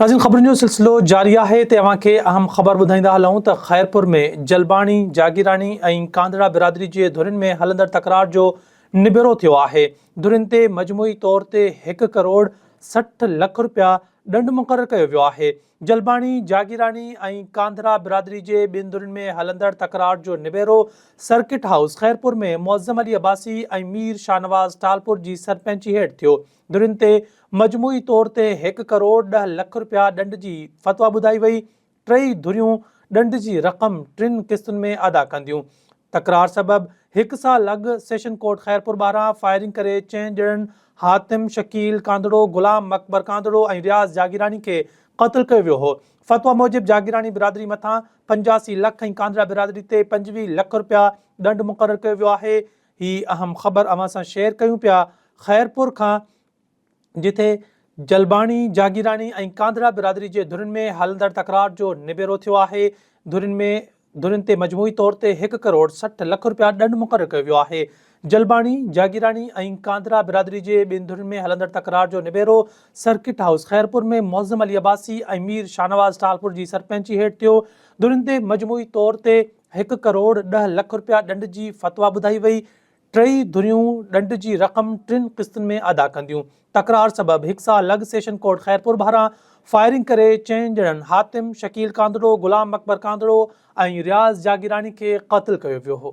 ناظرين خبرن جو سلسلو جاري آهي تي اوهان کي اهم خبر ٻڌائيندا هلون ته خيرپور ۾ جلباڻي، جاگيراڻي ۽ ڪانڌڙا برادري جي ڌرين ۾ هلندڙ تڪرار جو نبيرو ٿيو آهي، ڌرين تي مجموعي طور تي هڪ ڪروڙ سٺ لک رپيا ڏنڊ مقرر ڪيو ويو آهي، جلباڻي، جاگيراڻي ۽ ڪانڌڙا برادري جي ٻن ڌرين ۾ هلندڙ تڪرار جو نبيرو سرڪٽ هائوس خيرپور ۾ معظم علي عباسي ۽ مير شاهنواز ٽالپور جي سرپنچي هيٺ ٿيو، ڌرين تي مجموعي طور تي هڪ ڪروڙ ڏهه لک رپيا ڏنڊ جي فتويٰ ٻڌائي وئي، ٽيئي ڌريون ڏنڊ جي رقم ٽن قسطن ۾ ادا ڪنديون. تڪرار سبب هڪ سال اڳ سيشن ڪورٽ خيرپور ٻاهران فائرنگ ڪري چئن ڄڻن حاتم شڪيل ڪانڌڙو، غلام اڪبر ڪانڌڙو ۽ رياض جاگيراڻي کي قتل ڪيو ويو هو. فتويٰ موجب جاگيراڻي برادري مٿان پنجاسي لک ۽ ڪانڌڙا برادري تي پنجويهه لک رپيا ڏنڊ مقرر ڪيو ويو آهي. هي اهم خبر اوهان سان شيئر ڪيون پيا خيرپور کان جتي جلباڻي، جاگيراڻي ۽ ڪانڌڙا برادري جي ڌرين ۾ هلندڙ تڪرار جو نبيرو ٿيو آهي، ڌرين ۾ ڌرين تي مجموعي طور تي هڪ ڪروڙ سٺ لک رپيا ڏنڊ مقرر ڪيو ويو آهي، جلباڻي، جاگيراڻي ۽ ڪانڌڙا برادري جي ٻن ڌرين ۾ هلندڙ تڪرار جو نبيرو سرڪٽ هائوس خيرپور ۾ معظم علي عباسي ۽ مير شاهنواز ٽالپور جي سرپنچي هيٺ ٿيو، ڌرين تي مجموعي طور تي. هڪ ڪروڙ ڏهه لک رپيا ڏنڊ جي فتويٰ ٻڌائي وئي، ٽيئي ڌريون ڏنڊ جي رقم ٽن قسطن ۾ ادا ڪنديون، تڪرار سبب هڪ سال لڳ سيشن ڪورٽ خيرپور ٻاهران فائرنگ ڪري چئن ڄڻن حاتم، شڪيل ڪانڌڙو، غلام اڪبر ڪانڌڙو ۽ رياض جاگيراڻي کي قتل ڪيو ويو هو.